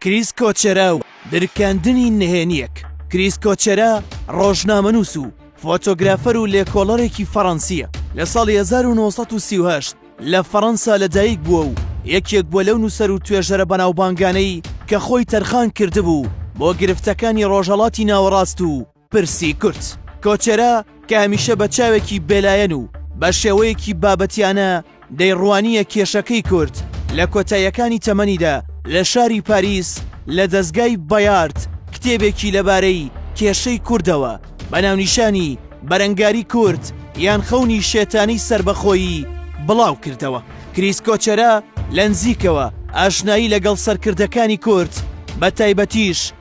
کریس کۆچەرا و درکاندنی نهێنییەک کریس کۆچەرا ڕۆژنامەنووس و فۆتۆگرافەر و لێکۆڵەرێکی فەڕەنسییە لە ساڵی 1938 لە فەڕەنسا لەدایک بووە و یەکێک بووە لەو نووسەر و توێژەرە بەناوبانگانەی کە خۆی تەرخان کردبوو بۆ گرفتەکانی ڕۆژهەڵاتی ناوەڕاست و پرسی کورد کۆچەرە کە هەمیشە بە چاوێکی بێلایەن و بە شێوەیەکی بابەتیانە دەیڕوانییە کێشەکەی کورد لە کۆتاییەکانی تەمەنیدا لە شاری پاریس لە دەزگای بەیارد کتێبێکی لەبارەی کێشەی کوردەوە بە ناونیشانی بەرەنگاری کورد یان خەونی شێتانی سربەخۆیی بڵاو کردەوە کریس کۆچەرە لە نزیکەوە ئاشنایی لەگەڵ سەرکردەکانی کورد بە تایبەتیش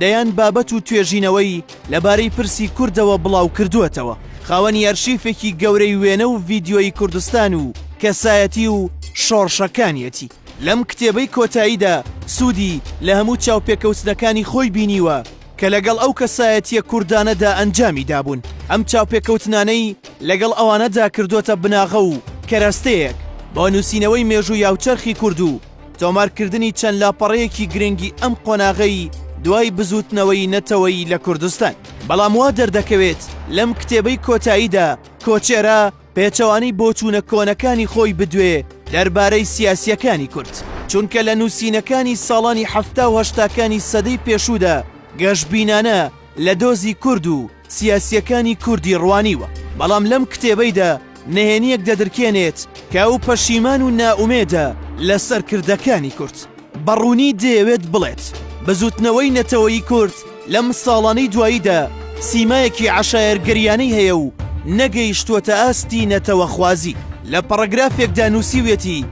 دەیان بابەت و توێژینەوەی لەبارەی پرسی کوردەوە بڵاوکردووەتەوە، خاوەنی ئەرشیفێکی گەورەی وێنە و ڤیدیۆیی کوردستان و کەسایەتی و شۆڕشەکانیەتی، لەم کتێبەی کۆتاییدا سوودی لە هەموو چاوپێکەوتنەکانی خۆی بینیوە کە لەگەڵ ئەو کەسایەتییە کوردانەدا ئەنجامی دابوون، ئەم چاوپێکەوتنانەی لەگەڵ ئەوانەدا کردۆتە بناغە و کەرەستەیەک بۆ نووسینەوەی مێژووی هاوچەرخی کورد و تۆمارکردنی چەند لاپەڕەیەکی گرنگی ئەم قۆناغەی دوای بزووتنەوەی نەتەوەیی لە کوردستان. بەڵام وا دەردەکەوێت لەم کتێبەی کۆتاییدا کۆچێرا پێچەوانەی بۆچوونە کۆنەکانی خۆی بدوێ دەربارەی سیاسییەکانی کورد، چونکە لە نووسینەکانی ساڵانی حەفتا و هەشتاکانی سەدەی پێشوودا گەشبینانە لە دۆزی کورد و، سیاسییەکانی کوردی ڕوانیوە، بەڵام لەم کتێبەیدا نهێنییەک دەدرکێنێت کە ئەو پەشیمان و نائومێدە لە سەرکردەکانی کورد. بە ڕوونی دەیەوێت بڵێت، بزووتنەوەی نەتەوەیی کورد لەم ساڵانەی دواییدا سیمایەکی عەشایەرگەرییانەی هەیە و نەگەیشتووەتە ئاستی نەتەوەخوازی. لە پەڕەگرافێکدا نووسیویەتی،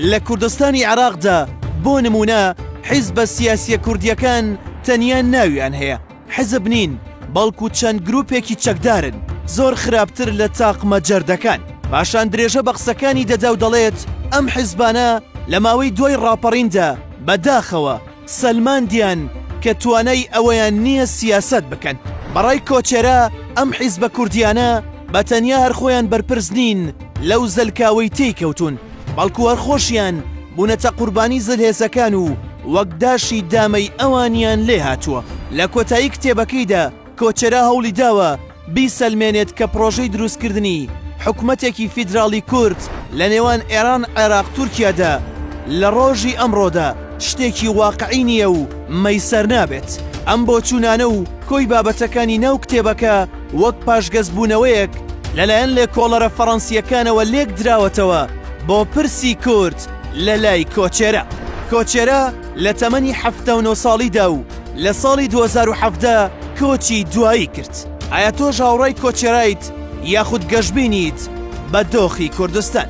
لە کوردستانی عێراقدا بۆ نموونە حیزبە سیاسییە کوردییەکان تەنیا ناویان هەیە، حزب نین بەڵکو چەند گروپێکی چەکدارن زۆر خراپتر لە تاقمە جەردەکان. پاشان درێژە بە قسەکانی دەدا و دەڵێت، ئەم حزبانە لە ماوەی دوای ڕاپەڕیندا بە داخەوە سەلماندیان کە توانای ئەوەیان نییە سیاسەت بکەن. بە ڕای کۆچێرا ئەم حزبە کوردییانە بە تەنیا هەر خۆیان بەرپرس نین لەو زەلکاوەی تێی کەوتوون. بەڵکو هەر خۆشیان بوونەتە قوربانی زلهێزەکان و وەک داشی دامەی ئەوانیان لێ هاتووە لە کۆتایی کتێبەکەیدا کۆچەرا هەوڵی داوە بیسەلمێنێت کە پڕۆژەی دروستکردنی حکومەتێکی فیدراڵی کورد لە نێوان ئێران عێراق تورکیادا لە ڕۆژی ئەمڕۆدا شتێکی واقعی نییە و مەیسەر نابێت ئەم بۆچوونانە و کۆی بابەتەکانی ناو کتێبەکە وەک پاشگەزبوونەوەیەک لەلایەن لێکۆڵەرە فەڕەنسییەکانەوە لێک دراوەتەوە بۆ پرسی کورد لە لای کۆچێرە. کۆچێرە لە تەمەنی حەفتا و نۆ ساڵیدا و لە ساڵی دوو هەزار و حەڤدە کۆچی دوایی کرد. ئایا تۆش هاوڕای کۆچێرایت یاخود گەشبینیت بە دۆخی کوردستان؟